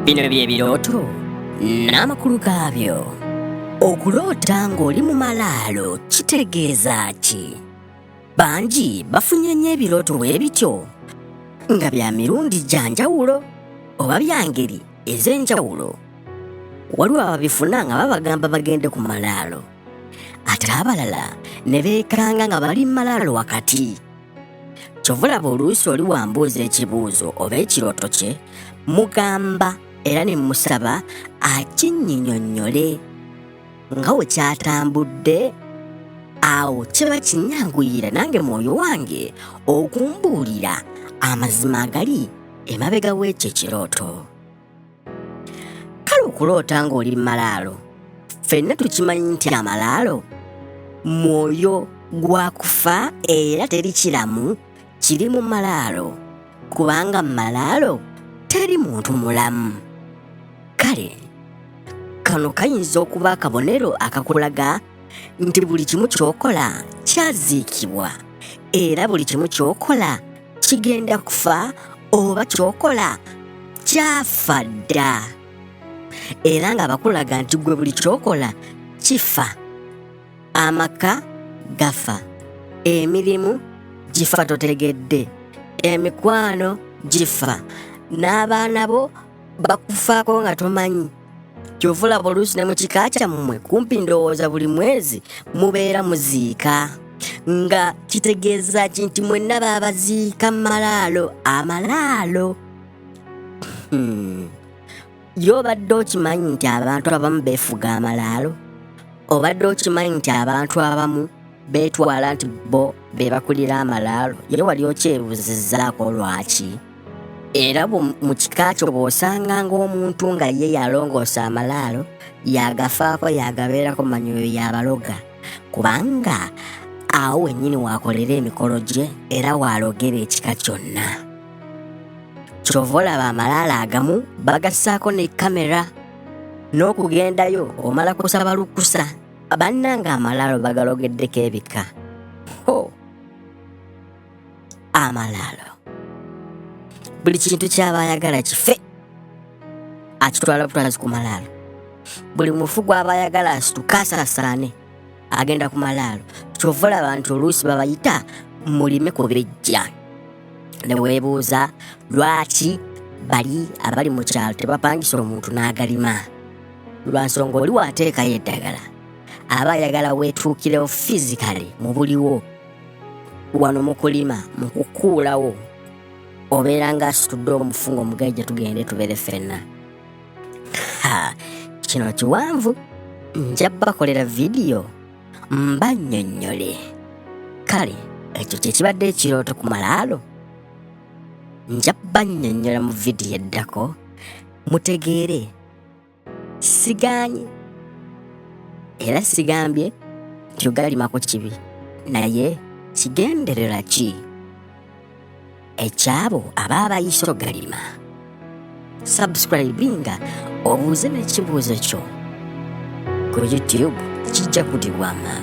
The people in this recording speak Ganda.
Bino bye birooto n'amakulu gaabyo. Okuloota ng'oli mu malaalo kitegeeza ki? Bangi bafunye nnyo ebirooto bwe bityo nga bya mirundi gya njawulo oba bya ngeri ez'enjawulo. Waliwo ababifuna nga babagamba bagende ku malaalo ate abalala ne beekanga nga bali mu malaalo wakati. kyova olaba oluusi oli wambuuza ekibuuzo oba ekirooto kye mugamba era ne musaba akinyinyonnyole nga we kyatambudde awo kiba kinyanguyira nange mwoyo wange okumbuulira amazima agali emabega w'ekyo ekirooto kale okuloota ng'oli malaalo ffenna tukimanyi nti amalaalo mwoyo gwakufa era teri kiramu kiri mu malaalo kubanga mu malaalo teri muntu mulamu kale kano kayinza okuba akabonero akakulaga nti buli kimu ky'okola kyaziikibwa era buli kimu ky'okola kigenda kufa oba kyokola kyafa dda era nga bakulaga nti gwe buli kyokola kifa amaka gafa emirimu gifa totegedde emikwano gifa n'abaana bo bakufaako nga tomanyi kyova olaba oluusi ne mu kika kyammwe kumpi ndowooza buli mwezi mubeera muziika nga kitegeeza ki nti mwenna baabaziika mu malaalo amalaalo hmm. ye obadde okimanyi nti abantu abamu beefuga amalaalo obadde okimanyi nti abantu abamu beetwala nti bo be bakulira amalaalo ye wali okyebuzizaako lwaki era mu kika kyo bw'osanga ng'omuntu nga ye yalongoosa amalaalo yagafaako yagabeerako manyi oyo yabaloga kubanga awo wennyini waakolera emikolo gye era waalogera ekika kyonna kyova olaba amalaalo agamu bagassaako ne kamera n'okugendayo omala kusaba lukusa bannange amalaalo bagalogeddeko ebika ho amalaalo buli kintu kyaba ayagala kife akitwala butwazi ku malaalo buli mufu gwaba ayagala asituka asaasaane agenda ku malaalo kyova olaba nti oluusi babayita mulime ku bijja ne weebuuza lwaki bali abali mu kyalo tebapangisa omuntu n'agalima lwa nsonga oli wateekayo eddagala aba ayagala weetuukirewo fizikale mu buliwo wano mu kulima mu kukuulawo obeera nga asitudde omufungo omugajja tugende tubeere ffenna kino kiwanvu nja bakolera vidiyo mbannyonnyole kale ekyo kyekibadde ekirooto ku malaalo nja bannyonnyola mu vidiyo eddako mutegeere sigaanye era sigambye nti ogalimako kibi naye kigenderera ki ekyabo aba abayise ogalima subscribinga obuuze n'ekibuuzo kyo ku youtube kijja kudibwanga